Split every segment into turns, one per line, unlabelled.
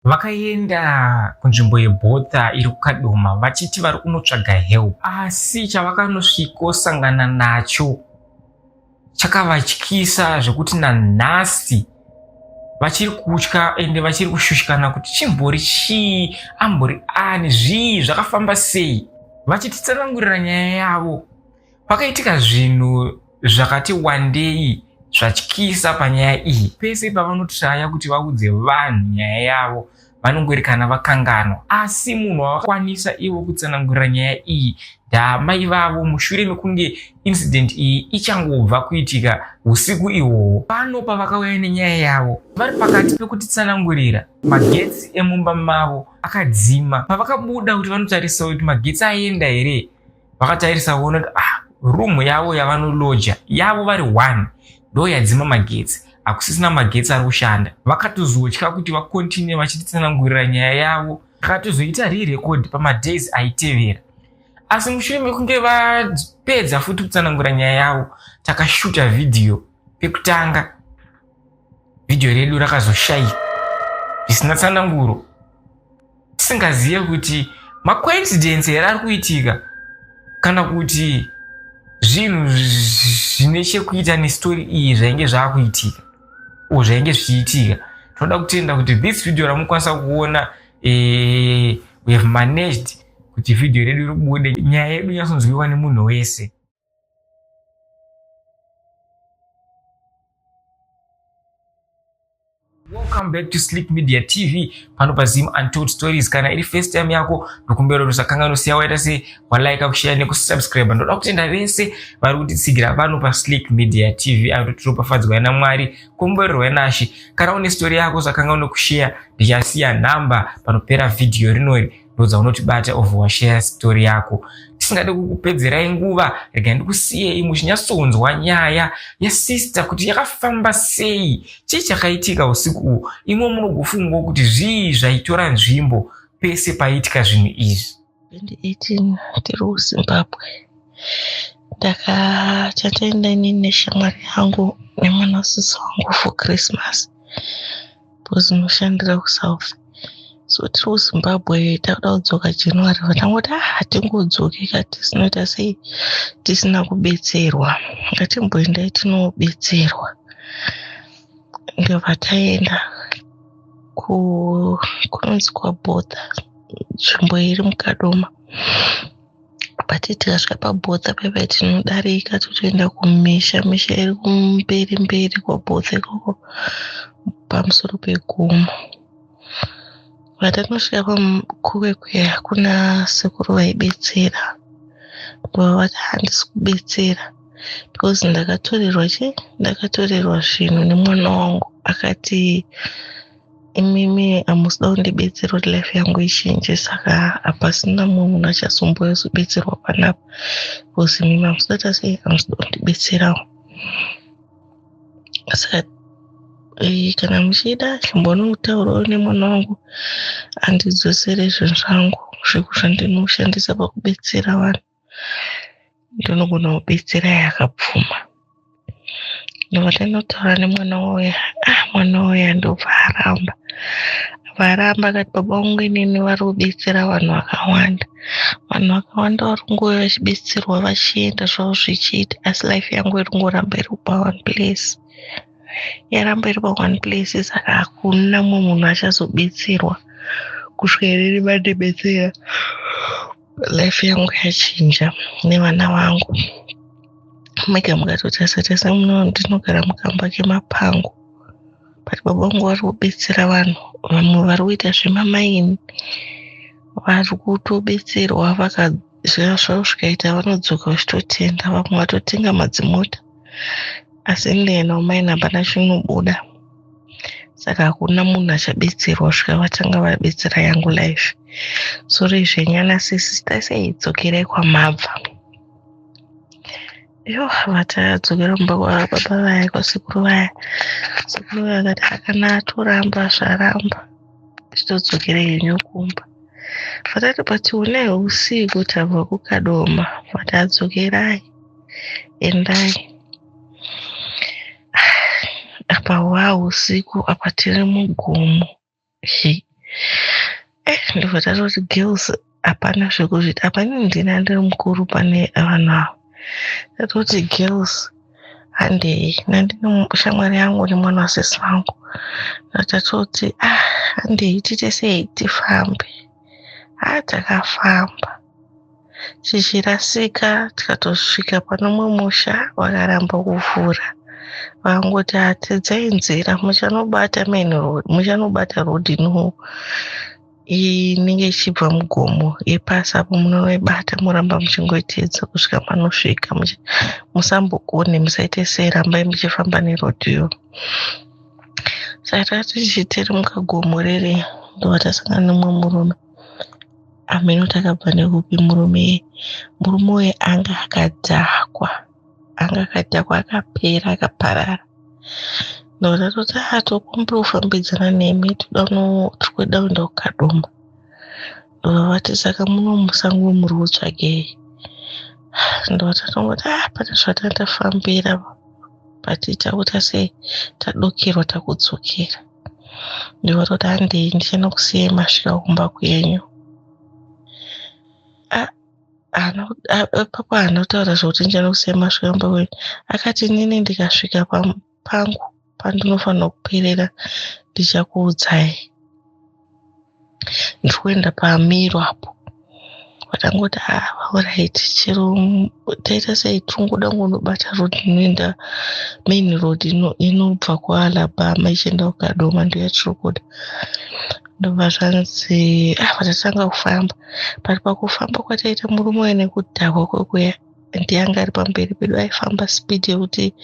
Vakaenda kunzvimbo yebota iri kuKadoma vachiti vari kunotsvaga help, asi chavakanosvikosangana nacho chakavatyisa zvekuti nanhasi vachiri kutya ende vachiri kushushikana kuti chimbori chii, ambori ani, zvii, zvakafamba sei. Vachititsanangurira nyaya yavo, Pakaitika zvinhu zvakati wandei zvatyisa panyaya iyi. Pese pavanotraya kuti vaudze vanhu nyaya yavo vanongoerekana vakanganwa, asi munhu wavakwanisa ivo kutsanangurira nyaya iyi ndaamai vavo mushure mekunge incident iyi ichangobva kuitika usiku ihwohwo. Pano pavakauya nenyaya yavo, vari pakati pekutitsanangurira, magetsi emumba mavo akadzima. Pavakabuda kuti vanotarisa kuti magetsi aenda here, vakatarisa kuona kuti ah room yavo yavanoloja yavo vari one ndo yadzima magetsi hakusisina magetsi ari kushanda vakatozotya kuti vakontinue vachititsanangurira nyaya yavo vakatozoita rerecord pamadays aitevera asi mushure mekunge vapedza futi kutsanangura nyaya yavo takashuta vhidhiyo pekutanga vhidhiyo redu rakazoshayika zvisina tsananguro tisingazive kuti macoincidence here ari kuitika kana kuti zvinhu zvine chekuita nestori iyi zvainge zvaakuitika o zvainge zvichiitika tinoda kutenda kuti this video ramukwanisa kuona eh, we have managed kuti vhidhiyo redu ribude nyaya yedu inyatsonzwiwa nemunhu wese welcome back to sleep media tv pano pazim untold stories kana iri first time yako ndokumbira kuti usakanga nosiya waita se walike kushare nekusubscribe ndoda kutenda vese vari kutitsigira pano pasleep media tv ato tiropafadzwa yana mwari komborerwa yanashe kana une story yako sakanga unokushare ndichasiya nhamba panopera vhidhiyo rinori ndodza unotibata of washare story yako tisingade kukupedzerai nguva rega ndikusiyei muchinyatsonzwa nyaya yasister kuti yakafamba sei chii chakaitika usiku uhu imwe munogofungawo kuti zvii zvaitora nzvimbo pese paiitika zvinhu izvi 2018
tiri kuzimbabwe ndaka chataenda inini neshamwari yangu nemwana sisi wangu for christmas because unoshandira kusouth so tiri kuzimbabwe takuda kudzoka january vatangoti ah hatingodzoki ka tisinoita sei tisina kubetserwa ngatimboendai tinobetserwa ndovataenda kunonzi kwabhodha nzvimbo iri mukadoma but tikasvika pabotha paipai tinodarika totoenda kumisha misha iri kumberi mberi kwabotha ikoko pamusoro pegomo vatanosvika pakuwekwe hakuna sekuru vaibetsera bava vati handisi kubetsera because ndakatorerwa chi ndakatorerwa zvinhu nemwana wangu akati imimi hamusida kundibetsera kuti life yangu ichinje saka hapasina mumwe munhu achasumbuya zobetserwa panapa bcause imimi hamusida tase hamusida kundibetserawo saka eh, kana muchida chimbonotaurawo nemwana wangu andidzosere zvinhu zvangu zvekushandinoshandisa pakubetsera vanhu ndinogona kubetsera yakapfuma nekuti anotaura nemwana wauya ah mwana wauya ndobva aramba abva aramba akati baba vangu inini vari kubetsera vanhu vakawanda vanhu vakawanda vari kungouya vachibetserwa vachienda zvavo zvichiita asi life yangu iri kungoramba iri pa one place yaramba iri pa one place saka hakuna mumwe munhu achazobetserwa kusvika inini vandibetsera life yangu yachinja nevana vangu mega mukatotarisa tarisa muno ndinogara mukamba kemapango but baba vangu vari kubetsera vanhu vamwe vari kuita zvemamaini vari kutobetserwa vakazvira zvavo zvikaita vanodzoka vachitotenda vamwe vatotenga madzimota asi ndiyena umaini hapana chinobuda saka hakuna munhu achabetserwa svika vatanga vabetsera yangu life sori zvenyana sisita sei dzokerai kwamabva yo vatadzokera kumba kwababa vaya kwasekuru vaya sekuru vaya vakati hakana atoramba zvaramba chitodzokera henyu kumba vatati but unei usiku tabva kukadoma vati adzokerai endai apa hwaa usiku apa tiri mugomo Hi. eh ndobva tatoti girls hapana zvekuzviti apa ini ndini andiri mukuru pane vanhu ava tatoti girls handei nandine mu- shamwari yangu nemwana wasisi vangu tatoti ah handei tiite sei tifambe ah takafamba tichirasika tikatosvika pane umwe musha wakaramba kuvhura vangoti hatidzai nzira muchanobata main road muchanobata road ino inenge ichibva mugomo yepasi apo munoibata moramba muchingoiteedza kusvika panosvika musambokone musaite sei rambai muchifamba nerodhiyo saka tichitiri mukagomo riri ndova tasangana nemumwe murume ameno takabva nekupi murume murume uye anga akadhakwa anga akadhakwa akapera akaparara ndoda toti atokumbira kufambidzana nemi toda tikuda kuenda kukadoma ndovavati saka muno musango muri kutsvagei ndovatangoti ah pane zvatanga tafambira patiita kuti ase tadokerwa takudzokera ndiwe toti handei ndichinokusiyai masvika kumba kwenyu ipapo anotaura zvekuti ndichinokusiyai masvika kumba kwenyu akati inini ndikasvika pangu pandinofanira kuperera ndichakuudzai ndiri kuenda pamiro apo vakangoti alright ah, chero taita sei tingoda kunobata road inoenda main road inobva kualabama ichienda kukadoma ndoyatiri ndobva zvanzi ah vatatanga kufamba but pakufamba kwataita murume uya nekudhakwa kwekuya and yanga ari pamberi pedu aifamba speed yekuti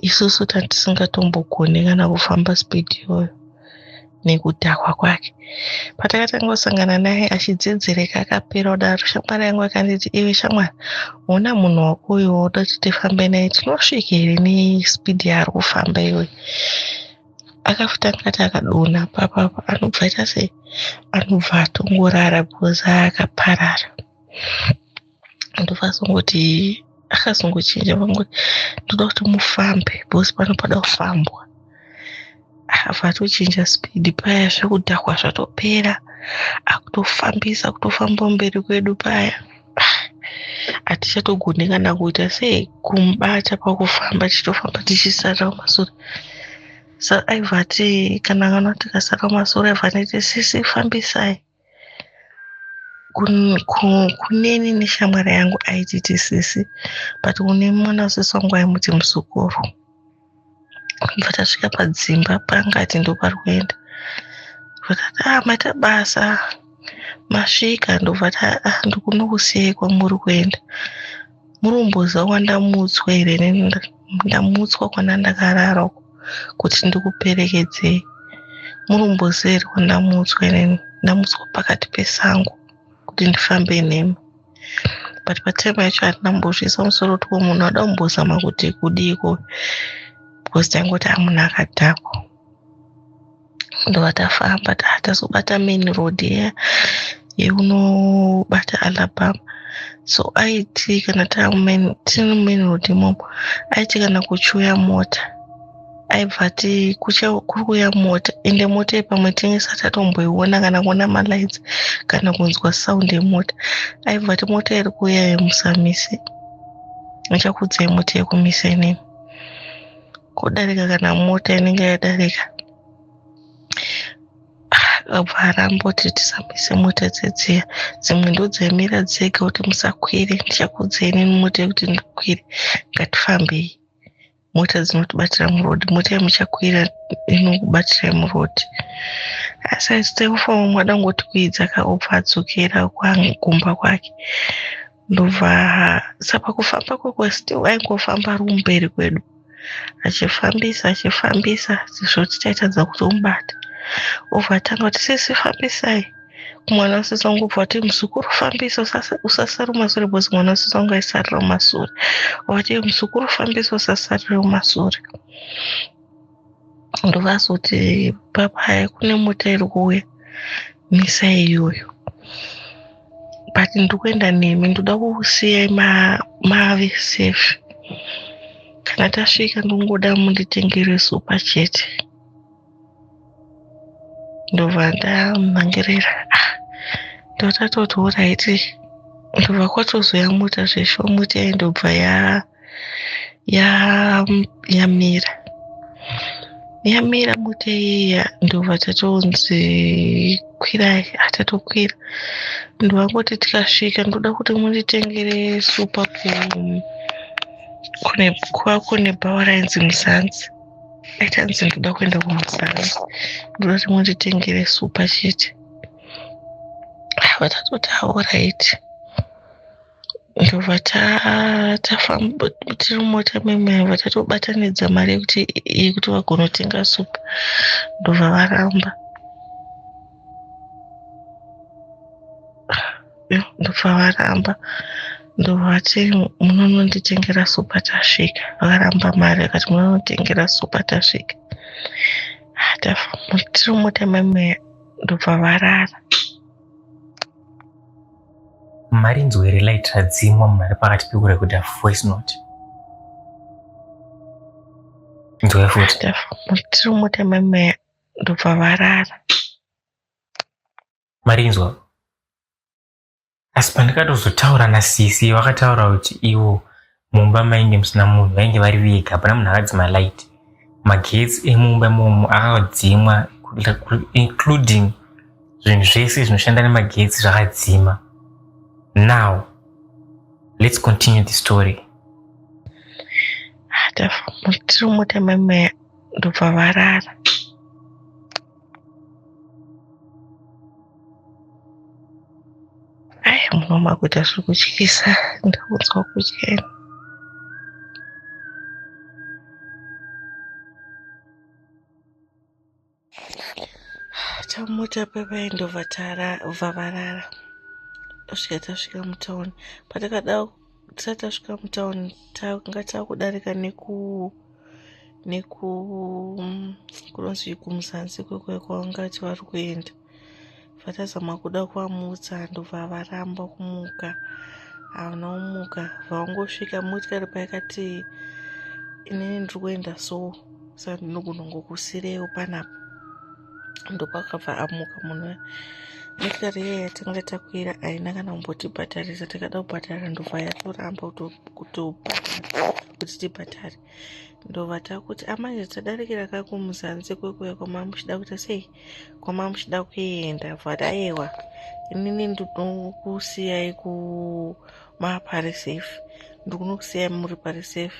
isusu tatisingatongogone kana kufamba speed iyoyo nekudhakwa kwake patakatanga kusangana naye achidzedzereka akapera kudaro shamwari yangu akanditi iwe shamwari hona munhu wako uyo woda kuti tifambe naye tinosvika here nespeed yaari kufamba iyoyo akafuta ngati akadona papapa anobva aita sei anobva atongorara because akaparara ndovazongoti akazongochinja vangoti ndoda kuti mufambe bhosi pano pada kufambwa vatochinja speed paya zvekudhakwa zvatopera akutofambisa kutofamba mberi kwedu paya hatichatogone kana kuita sei kumubata pakufamba tichitofamba tichisara kumasure sa aivati kana kana tikasara kumasure aiva nete sisi fambisai kuneni neshamwari yangu aititi sisi but une mwana wesisi wangu aimuti musukuru bva tasvika padzimba panga ati ndopari kuenda vakati ah maita basa masvika ndobva ah, ndikunokusiyei kwamuri kuenda Muromboza wandamutswa here ndamutswa kwana ndakarara uko kuti ndikuperekedzei muromboza here wandamutswa here ndamutswa pakati pesango kuti ndifambe nemi but patime yacho hatina mbozviisa musoro kuti wo munhu ada kumbozama kuti kudiiko because taingoti amunhu akadhakwa ndobva tafamba tazobata main road iya yeunobata alabama so aiti kana tiri mumain road imomo aiti kana kuchiuya mota aibva ati kuri kuuya mota ende mota iyi pamwe tinenge sati atomboiona kana kuona malights kana kunzwa sound yemota aibva ati mota iri kuuya yemusamise achakuudzai mota yekumise inini kudarika kana mota inenge yadarika akabva ah, aramba kuti tisamisa mota dzedziya dzimwe ndodzaimira dzega kuti musakwire ndichakudzai neni mota yekuti ndikwire ngatifambei mota dzinotibatira muroad mota yamuchakwira inokubatirai muroad asi aisite kufamba mwadangotikwidza kaobva adzokera kumba kwake ndobva saka kufamba kwako still aingofamba ari kumberi kwedu achifambisa achifambisa sezvo tichaitadza kutomubata obva atanga kuti sisi fambisai mwana usisi wangu obva kuti muzukuru fambisa usasare mumasure bcause mwana usisi wangu aisarira mumasure obva kuti muzukuru fambisa usasarire mumasure ndovazi kuti papaya kune mota iri kuuya misa iyoyo but ndikuenda nemi ndoda kukusiyai mave safe kana tasvika ndongoda munditengere supa chete ndobva ndamhangirira ah, ndotatoti oraiti ndobva kwatozoya mota zveshomuti yaindobva ya yamira yamira bute iya ndobva tatonzi kwirai hatatokwira ndovangoti tikasvika ndoda kuti munditengere supa kwako nebhawa rainzi muzanzi aitanzi ndoda kuenda kumuzanzi ndoda kuti munditengere supa chete vatatotaura iti ndobva tafamba tiri mumota memai vatatobatanidza mari yekuti yekuti vagonotenga supu ndobva varamba ndobva varamba ndovati munononditengera supa tasvika vakaramba mari akati munonotengera supa tasvika tiri mumota memai ndobva varara
Marinzwa here light radzimwa munhu ari pakati pekurekodha voice note? Nzwa futi. Tiri
mutema meya ndobva varara.
Marinzwa. Asi pandikatozotaura nasisi vakataura kuti ivo mumba mainge musina munhu vainge vari vega hapana munhu akadzima light magetsi emumba imomo akadzimwa including zvinhu zvese zvinoshanda nemagetsi zvakadzima now let's continue the story
tafamba tiri mota mamaya ndobva varara Ai muno makuita zviri kutyisa ndakunzwa kutya ini. Tamuta pavaenda vatara vavarara kusvika tasvika mutauni patakada tisati tasvika mutown tanga takudarika neku neku kunonzi kumuzanzi kwekuya kwavangati vari kuenda vatazama kuda kuvamutsa ndobva varamba kumuka havana kumuka vaungosvika motikari payakati inini ndiri kuenda so saka ndinogona kungokusirewo panapa ndokwakabva amuka munhu motokari iya yatanga takwira haina kana kumbotibhadharisa takada kubhadhara ndobva yatoramba kutobhadhara kuti tibhadhare ndobva takuti amanje ah, tadarikira ka kumuzanzi kwekuya kwamama muchida kuita sei kwamama muchida kuenda vhadaewa inini ndinokusiyai kumaparisafe ndikunokusiyai muri parisafe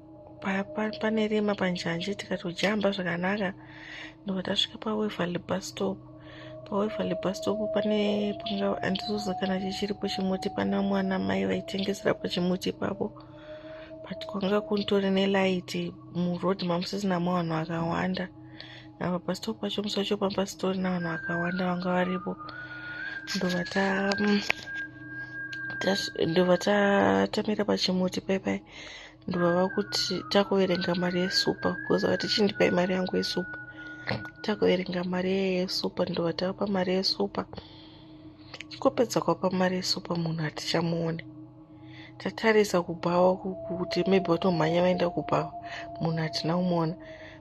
pane rima panjanji tikatodjamba zvakanaka ndobva tasvika paweverly bus stop paweverly bus stop pane panga andizoza kana chichiripo chimuti pana mwana mai vaitengesera pachimuti ipapo but kwanga kuntori nelight muroad mamusisina mavanhu akawanda apa pastop pacho musi wacho pambasitorina vanhu vakawanda vanga varipo ndobva ta mm, ndobva tatamira pachimuti paipai ndovava kuti takuverenga mari yesupa bcause vati chindipai mari yangu yesupa takuverenga mari yeye yesupa ndova tavapa mari yesupa chikopedza kwapa mari yesupa munhu hatichamuone tatarisa kubhawa kuti maybe vatomhanya vaenda kubhawa munhu hatina kumuona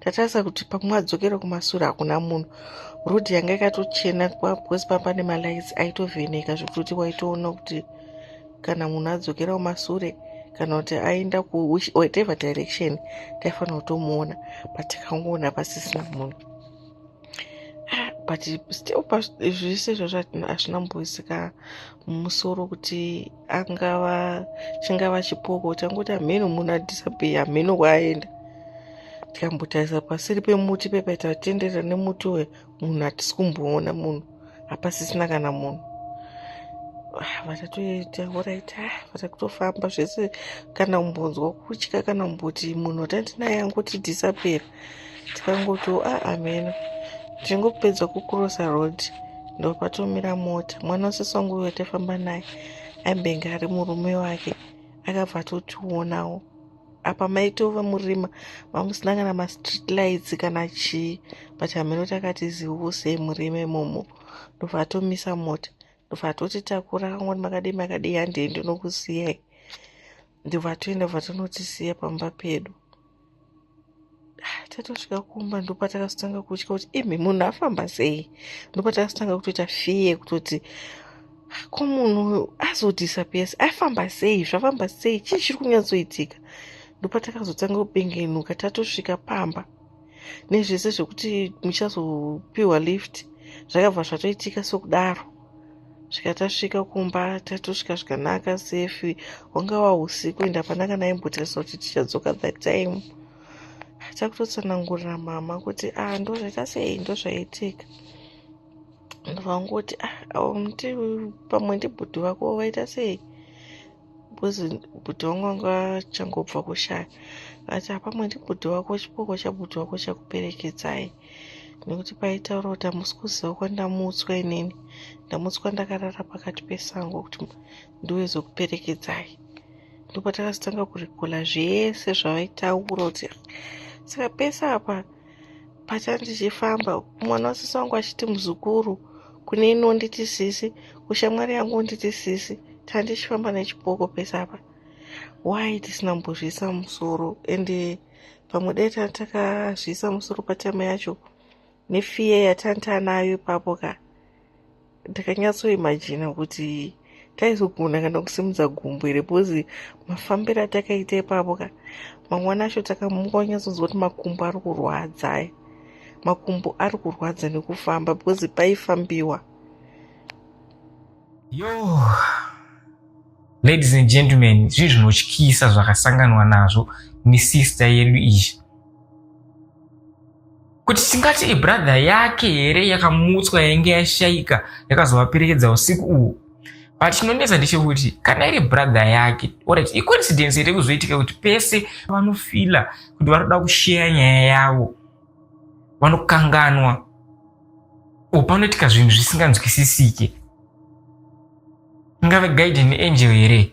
tatarisa kuti pamwe adzokere kumasure hakuna munhu road yanga ikatochena because pamba nemalights aitovheneka zvekuti waitoona kuti kana munhu adzokera kumasure kana kuti aenda kuwhatever direction taifanira kutomuona but tikangoona pasisina munhu ah, but still zvese izvozvo hazvina mboisika musoro kuti angava chingava chipoko changoti hameno munhu adisappear hameno kwaaenda tikambotarisa pasiri pemuti pepaita vatenderera nemuti uye munhu hatisi kumboona munhu hapasisina kana munhu ah, vatatoita oraita ah, vatakutofamba zvese kana kumbonzwa kutya kana kumboti munhu atandinaye angoti disappear tikangoti aa ah, ameno tichingopedza kucrossa road ndopatomira mota mwana usisi wangu uyo taifamba naye aimbenge ari murume wake akabva atotionawo apa maitova murima mamusina kana mastreet lights kana chii but hameno takati ziusei murima imomo ndobva atomisa mota ndobva atoti takura kangoti makadii makadii handei ndinokusiyai ndobva atoenda bva tonotisiya pamba pedu tatosvika kumba ndopatakazotanga kutya kuti imi munhu afamba sei ndopatakazotanga kutoita fiye kutoti ko munhu azodisappears afamba sei zvafamba sei chii chiri kunyatsoitika ndopatakazotanga kubengenuka tatosvika pamba nezvese zvekuti muchazopiwa lift zvakabva zvatoitika sokudaro zvikatasvika kumba tatosvika zvikanaka sefi hwanga wahusiku ende hapana kana aimbotarisa kuti tichadzoka that time takutotsanangurira mama kuti a ah, ndozvaita sei ndozvaitika ndovangoti a ah, aumti pamwe ndibhudhi vako vaita sei because bhuti wangu anga achangobva kushaya ati apamwe ndi bhuti wako chipoko chabhuti wako chakuperekedzai nekuti paitaura kuti hamusi kuziva kwandamutswa inini ndamutswa ndakarara pakati pesango kuti ndiweze kuperekedzai ndopatakazotanga kurikola zvese zvavaitaura kuti saka pese apa pacha ndichifamba mwana wasisi wangu achiti muzukuru kune inonditi sisi kushamwari yangu unditi sisi tandichifamba nechipoko pese apa why tisina mbozviisa musoro and eh, pamwe dai tani takazviisa musoro patama yacho nefear yatani taanayo ipapo ka ndakanyatsoimajina kuti taizogona kana kusimudza gumbo here bcause mafambiro atakaita ipapo ka mangwana acho takamuka wanyatsonzwa kuti makumbo ari kurwadza aya makumbo ari kurwadza nekufamba bcause paifambiwa
yo ladies and gentlemen zvii zvinotyisa zvakasanganwa nazvo misister yedu izvi kuti tingati ibradha yake here yakamutswa yainge yashaika yakazovaperekedza usiku uhu but chinonetsa ndechekuti kana iri bradha yake orit icoincidence here kuzoitika kuti pese vanofila kuti vanoda kusheya nyaya yavo vanokanganwa o panoitika zvinhu zvisinganzwisisike ingave guiden angel here